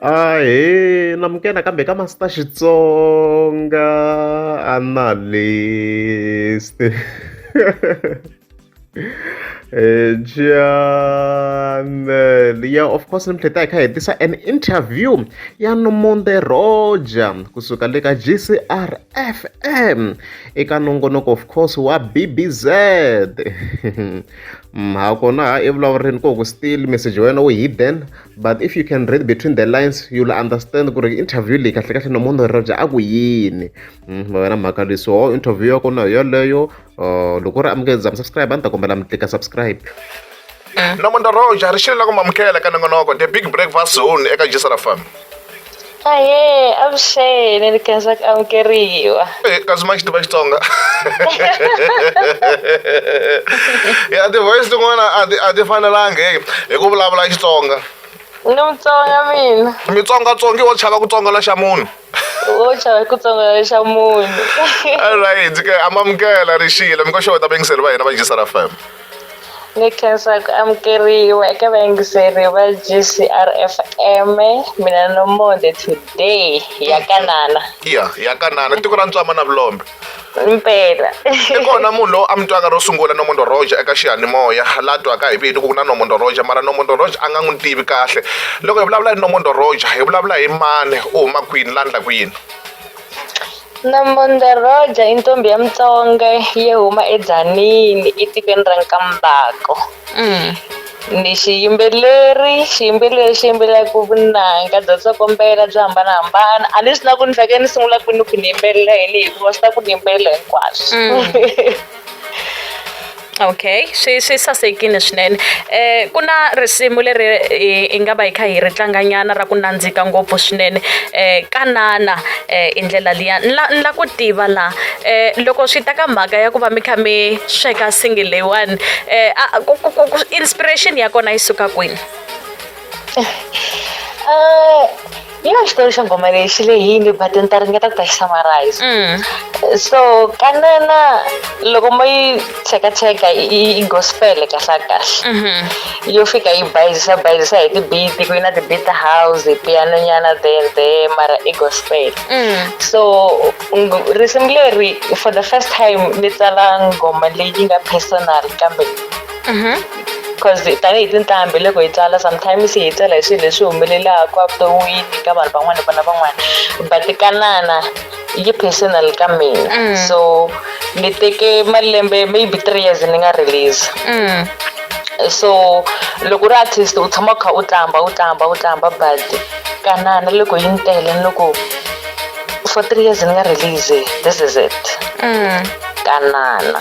Ahee namukela kambe ka Master Xitsonga analyst Channel ya of course namuntlha ta hi kha hi tisa an interview ya Nomonde Roger kusuka le ka GCR FM eka nongonoko of course wa BBZ Mm, ha kona ha evulavureni ku ku still message wa wena wu hidden but if you can read between the lines you'll understand ku ri interview leyi kahle kahle no munhu rirabya a ku yini mm, va wena mhaka leyi so interview ya kona yoleyo uh, loko ri amukele za mi subscribe a ni ta kombela mi tlika subscribe mm. namuntlha roja ri xile la ku mamukela ka nongonoko the big breakfast zone eka jisara farm Ahee, avuxeni ni khensa ku amukeriwa. Eh, kasi ma xi tiva Xitsonga. Ya ti-voice tin'wana a ti a ti fanelanga hi hi ku vulavula Xitsonga. Ni Mutsonga mina. Mitsongatsongi wo chava ku tsongala xa munhu. Wo chava ku tsongala xa munhu. All right, ke amamukela ri xile mi ko xota va yingiseri va hina va Jisara FM. Ni khensa ku amukeriwa eka vayingiseri va G_C_R F_M-e, mina ni Nomonde today ya ka Nana. Ya, ya ka Nana, tiko ra Ntswama na Vulombe. Impela. I kona munhu loyi a mi twaka ro sungula Nomondo Roja eka xiyanimoya, la twaka hi vito ku ku na Nomondo Roja mara Nomondo Roja a nga n'wi tivi kahle. Loko hi vulavula hi Nomondo Roja hi vulavula hi mani, u huma kwini, la ndlaku yini? Namondoro dya i ntombhi ya Mutsonga yi huma eDzanini etikweni ra Nkambako ni xiyimbeleri xiyimbeleri xi yimbelelaka vunanga bya tsokombela byo hambanahambana a ni swi na ku ni fanekele ni sungula kwini ku ni yimbelela yini hikuva swi ta ku ni yimbelela hinkwaswo. Okay swi swi sasekile swinene ku na risimu leri hi nga va hi kha hi ri tlanga nyana ra ku nandzika ngopfu swinene tanana hi ndlela liya ni la ni la ku tiva la loko swi ta ka mhaka ya ku va mi kha mi sweka singing leyiwani inspiration ya kona yi suka kwini. yi na xitori xa nghoma leyi xi lehile but ni ta ringeta ku ta xi summarize mm. so kanana loko mo yi cheka cheka i gospel kahle kahle mm-hmm. yo fika yi bayizisa bayizisa hi tibiti ku yi na tibiti house piano nyana there there mara i gospel mm. so risimu leri for the first time ni tsala nghoma leyi nga personal kambe because tanihi tintambi loko hi tsala sometimes hi tsala hi swilo leswi humelelaka evuton'wini ka vanhu van'wana vana van'wana but kanana yi personal ka mina mm. so ni teke malembe maybe three years ni nga release mm. so loko u ri artist u tshama u kha u tlamba u tlamba u tlamba but kanana loko yi ni tele ni loko for three years ni nga release this is it mm. kanana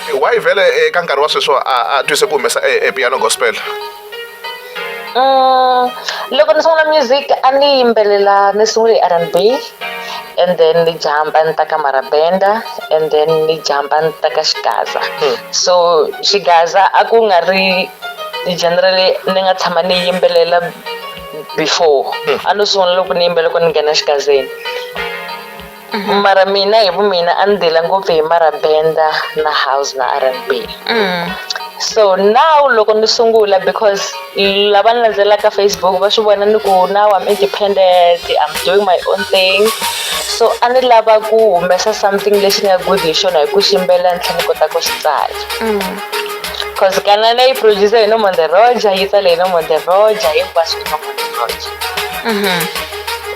why vhele eka eh, nkarhi wa sweswo a a twise ku humesa eh, eh, piano gospel mm, loko ni sungula music a ni yimbelela ni sungule hi rnb and then ni jamba ni ta ka marabenda and then ni jamba ni ta ka xigaza hmm. so xigaza a ku nga ri generally ni nga tshama ni yimbelela before hmm. a no sungula loko ni yimbela loko ni nghena xigazeni Mm-hmm. mara mina hi vumina a ni dela ngopfu hi marabenda na house na r n b mm. so now loko ni sungula because lava ni landzelaka facebook va swi vona ni ku now i'm independent i'm doing my own thing so a ni lava ku humesa something lexi ni nga good hi xona hi ku ximbela ni tlhe ni kota ku xi tsala mm. cause kanana yi producer hi nomonderoja yi tsale hi nomonderoja hinkwaswo hi nomonderoja mm-hmm.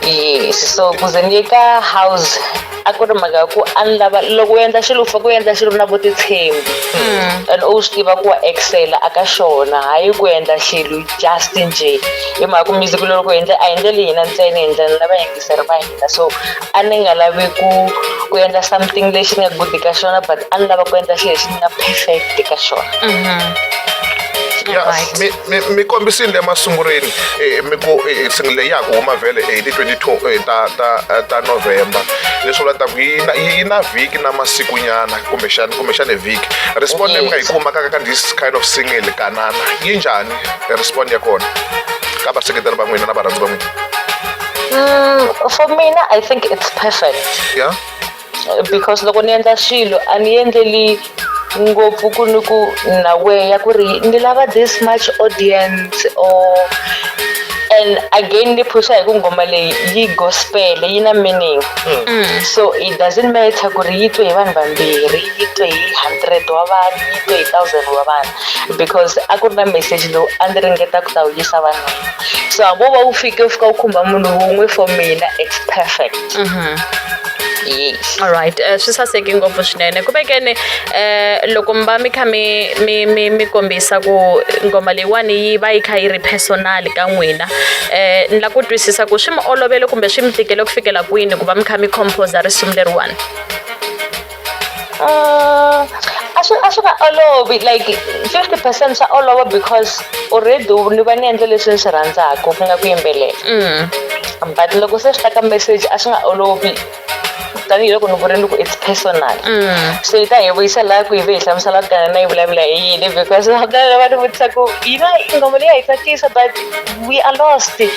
yes so ku ze ni ye ka house a ku ri mhaka ya ku a ni lava loko u endla xilo u fake u endla xilo na vutitshembi mm. and u swi tiva ku wa excela a ka xona hayi ku endla xilo just nje hi mhaka ku music loko hi endle a hi ndleli hina ntsena hi ndlela lava yingiseri va hina so a ni nga lavi ku ku endla something lexi ni nga good ka xona but a ni lava ku endla xilo lexi ni nga perfect ka xona mm-hmm. mi mi kombisile emasungulweni eh, mi ku eh, single leyi ya ha ku huma vhele eh, hi ti 22 ta ta ta november leswi vula ta ku yi na yi na vhiki na masikunyana kumbexana kumbexana vhiki respond leyi mi nga yi kuma ka ka this kind of single kanana yi njhani respond ya kona ka vaseketeri va n'wina na varhandzi va n'wina Mm, for me, I think it's perfect. Yeah. because loko ni endla swilo a ni endleli ngopfu ku ni ku na way ya ku ri ni lava this much audience or and again ni phusha hi ku ngoma leyi yi gospel yi na meaning mm. so it doesn't matter ku ri yi twe hi vanhu vambirhi yi twe hi hundred wa vanhu yi twe hi thousand wa vanhu because a ku ri na meseji lowu a ndzi ringeta ku ta wu yisa vanhu so hambi wo va wu fike wu fika wu khumba munhu wun'we for mina it's perfect mhm. yes alright uh, eh, swi saseki ngopfu swinene ku vekene um eh, loko mi va mi kha mi mi mi mi kombisa ku ngoma leyiwani yi va yi kha yi ri personal ka n'wina um ni la ku twisisa ku swi mi olovele kumbe swi mi tikele ku fikela kwini ku va mi kha mi composa risimu leriwani Uh, a swi a swi nga olovi like fifty percent swa olova because already ni va ni endle leswi ni swi rhandzaka ku nga ku yimbelela mm. but loko se swi ta ka message a swi nga olovi tanihiloko ni vurile ku it's personal mm. so yi ta hi vuyisa laha ku yi ve hi hlamusela ku gana na yi vulavula hi yini because vakana va ni vutisa ku yi va ngoma leyi ya hi tsakisa but we are lost a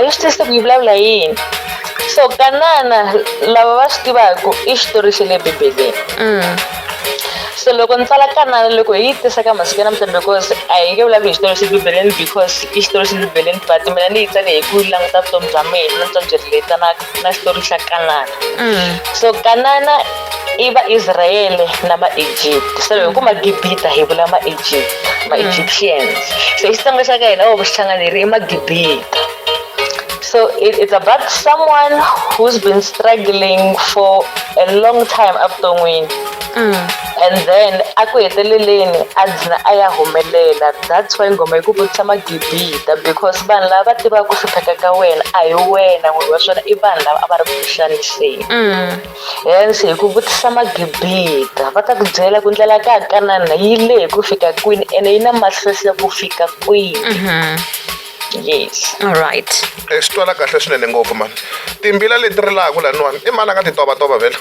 yi swi twisise ku yi vulavula hi yini so kanana lava va swi tivaka i xitori xa le bibeleni mm. so loko ni tsala kanana loko hi yi tisa ka masiku ya namuntlha because a hi nge vulavuli hi xitori xa bibeleni because i xitori xa bibeleni but mina ni yi tsale hi ku languta vutomi bya mina na vutomi byi riletana na xitori xa kanana mm. so kanana i vaisrayele na maegypt so hi ku magibita hi vula maegypt ma-egyptians mm. so xitsonga xa ka hina o xithanganeri i magibita So it, it's about someone who's been struggling for a long time up to win. Mm. And then aku heteleleni a dlina a ya humelela that's why ngoma yi ku vutisa magibita because vanhu lava va tivaka ku hlupheka ka wena a hi wena n'wini wa swona i vanhu lava a va ri ku xaniseni mm. hence hi ku vutisa magibita va ta ku byela ku ndlela ka kanana yi lehe ku fika kwini ene yi na mahlohlo ku fika kwini mm-hmm. yes all right e eh, swi twala kahle swinene ngopfu mani timbila leti rilaka laniwani i mani a nga ti tovatova vhela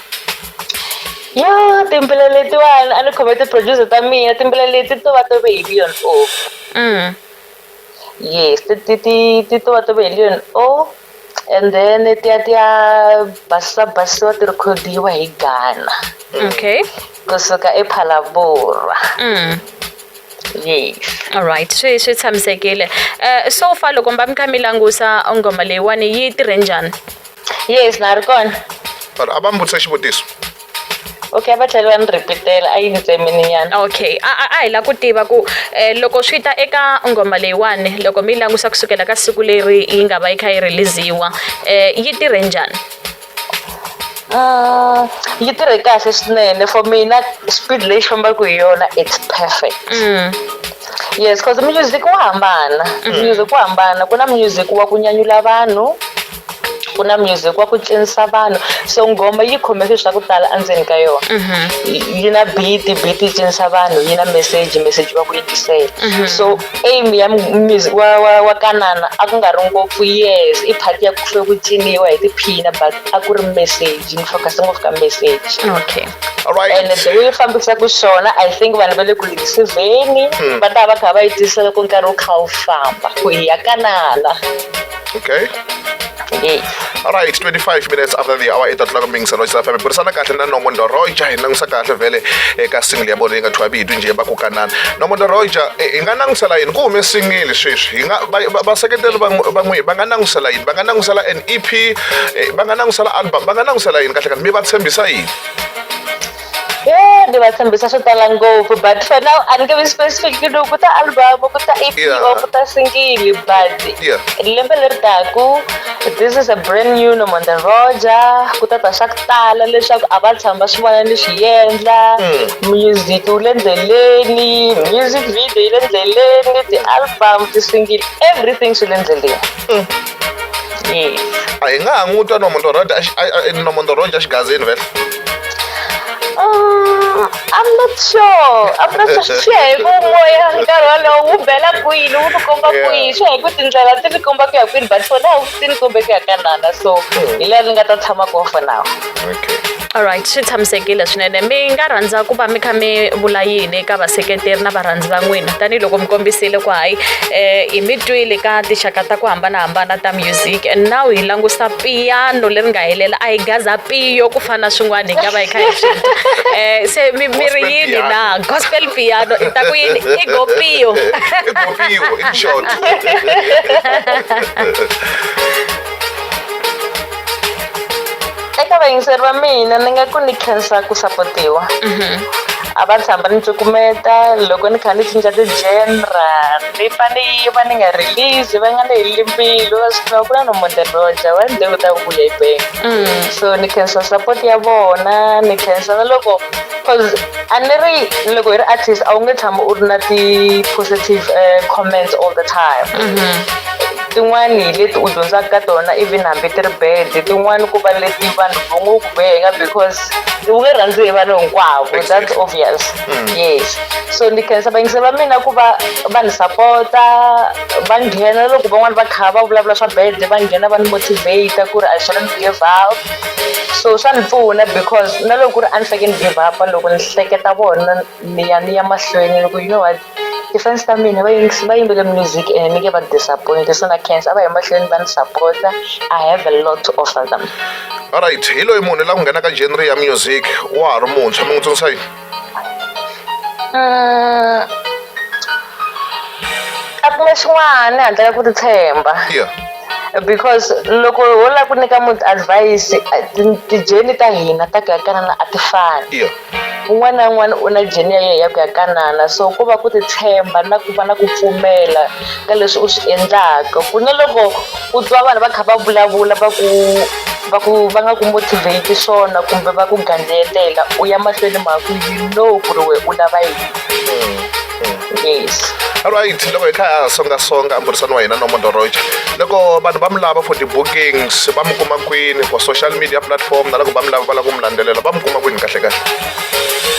yo timbila letiwani a ni khome ti-producer ta mina timbila leti to va tove hi leon o mm. yes ti ti ti ti to va tove hi leon o and then tiya tiya basisa basisiwa ti rekhodiwa hi ghana okay kusuka ephalabora mm. yes all right swi swi tshamisekile uh, so far loko mba mi kha mi langusa ngoma leyiwani yi tirhe njhani yes na ri kona vanhu a va mbutisa xivutiso Okay a va tlheli va ni repeat-ela a yi ni tsemini nyana. Okay a a a hi lava ku tiva ku loko swi ta eka nghoma leyiwani loko mi yi langusa kusukela ka siku leri yi nga va yi kha yi release-iwa yi tirhe njhani? yi tirhe kahle swinene for mina speed leyi xi fambaka hi yona it's perfect yes cause music wa hambana music wa hambana ku na music wa ku nyanyula vanhu ku na music wa ku cinisa vanhu so nghoma yi khome swilo swa ku tala endzeni ka yona mhm. yi na beat beat yi cinisa vanhu yi na message message va ku yingisela mhm. so aim ya music wa wa wa kanana a ku nga ri ngopfu yes i part ya ku hlwe ku ciniwa hi tiphina but a ku ri message ni focus ngopfu ka message okay right. and the way fambisa ku swona i think vanhu va le ku yingisizeni hmm. va ta va kha va yi tisela ku nkarhi wu kha wu famba ku hi ya kanana okay okay all right 25 minutes after the hour ita tlaka ming sano sa family burisana kahle na nomo ndoroja hi langisa kahle vele eka single ya bona yi nga thwa bidu nje ba kokanana nomo ndoroja hi nga langisa layini ku hume single sweswi hi nga ba seketeli ba n'wi ba nga langisa layini ba nga langisa la an EP ba nga langisa la album ba nga langisa layini kahle kahle mi va tshembisa yini Eh, ni va tshembisa swo tala ngopfu but for now a ni nge vi specific ku ku ta album ku ta ep yeah. or ku ta singili but yeah. lembe leri taku this is a brand new nomonda roja ku ta ta swa ku tala leswaku a va tshama va swi vona ni swi yendla mm. music wu le ndleleni music video yi le ndleleni ti-album ti-singili everything swi le ndleleni Mm. Yeah. a hi nga ha n'wi twa nomondoroja nomondoroja xigazini vele Um, I'm not sure. I'm not sure. Swi ya hi ku moya nkarhi wolowo wu bela kwini, wu ku komba Yeah. kwini. Swi ya hi ku tindlela ti ni komba ku ya kwini, but for now ti ni kombe ku ya ka nana. So hi laha ni nga ta tshama kona for now. alright swi tshamisekile swinene mi nga rhandza ku va mi kha mi vula yini eka vaseketeri na varhandzi va n'wina tanihiloko mi kombisile ku hayi um hi mi twile ka tinxaka ta ku hambanahambana ta music and now hi langusa piyano leri nga helela a hi gaza piyo ku fana swin'wana hi nga va hi kha hi swi um se mi mi ri yini na gospel piano i ta ku yini i go piyo i short eka vayingiseri va mina ni nga ku ni khensa ku sapotiwa mhm. a va tshamba ni cukumeta loko ni kha ni cinca ti-genre ni fa ni yiva ni nga release va nga ni heleli mbilu va swi tiva ku na nomonderoja wa nde u ta vuya hi bengi mm. so ni khensa support ya vona ni khensa na loko cause a ni ri loko hi ri artist a wu nge tshami u ri na ti-positive uh, comments all the time mm -hmm. Tin'wani hi leti u dyondzaka ka tona even hambi ti ri bad tin'wani ku va leti vanhu va ngo ku benga because u nge rhandzi hi vanhu hinkwavo that's obvious mm. yes so ni khensa vayingisi va mina ku va va ni sapota va nghena loko van'wani va kha va vulavula swa bad va nghena va ni motivate ku ri i shouldn't give up so swa ni pfuna because na loko ku ri a ni faneke ni give up loko ni hleketa vona ni ya ni ya mahlweni loko you know what Ti-fans ta mina va yingisi va yimbele music and ni nge va disappoint so na khensa a va yi mahlweni va ni sapota I have a lot to offer them. Alright hi loyi munhu la ku nghena ka genre ya music wa ha ri muntshwa mi n'wi tsundzuxa yini? Mm. A ku na xin'wana handle ka ku ti tshemba. Yeah. because loko ho lava ku nyika munhu advise ti-journey ta hina ta ku ya ka na a ti fani. Un'wana na un'wana u na jeni ya yena ya ku ya kanana so ku va ku titshemba na ku va na ku pfumela ka leswi u swi endlaka ku na loko u twa vanhu va kha va vulavula va ku va ku va nga ku motivate swona kumbe va ku gandzetela u ya mahlweni mhaka ku you know ku ri wena u lava yini. yes alright loko hi kha ha songasonga mbhurisano wa hina no mondoroja loko vanhu va mi lava for ti-bookings va mi kuma kwini for social media platform na loko va mi lava va lava ku mi landzelela va mi kuma kwini kahle kahle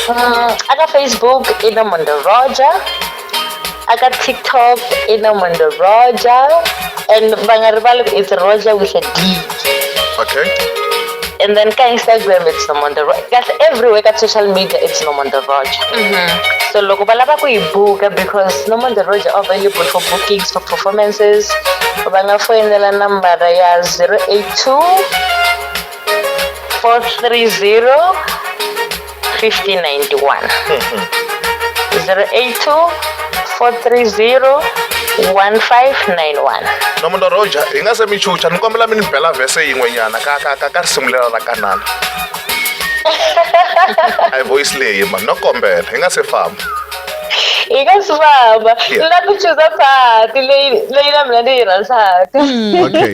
mm, aka facebook i no mondoroja aka tiktok i no mondoroja and va nga rivali ku it's roja with a d Okay. And then ka Instagram it's Norman the Roger. Kasi everywhere ka social media it's Norman the Roger. Mm-hmm. So loko ba lava ku yi buka because Norman the Roger are available for bookings for performances. Va nga foyinela nambara ya 082 430 1591 082 430 1591 nomu ndo roja hi nga se mi chucha ni kombela mi ni bela vhese yin'wenyana ka ka ka ka ri sungulela ra kanana a hi voice leyi mani no kombela hi nga se famba hi nga swi famba ni la ku chuza phati leyi leyi na mina ni yi rhandzaka okay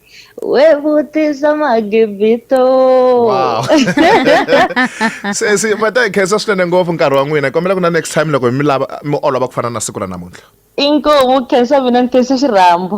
Ué, você só magibito. Wow. se se vata hi khensa swinene ngopfu nkarhi wa n'wina kombela ku na next time loko mi lava mi olova ku fana na siku ra namuntlha inkomu khensa mina ni khensa xirhambo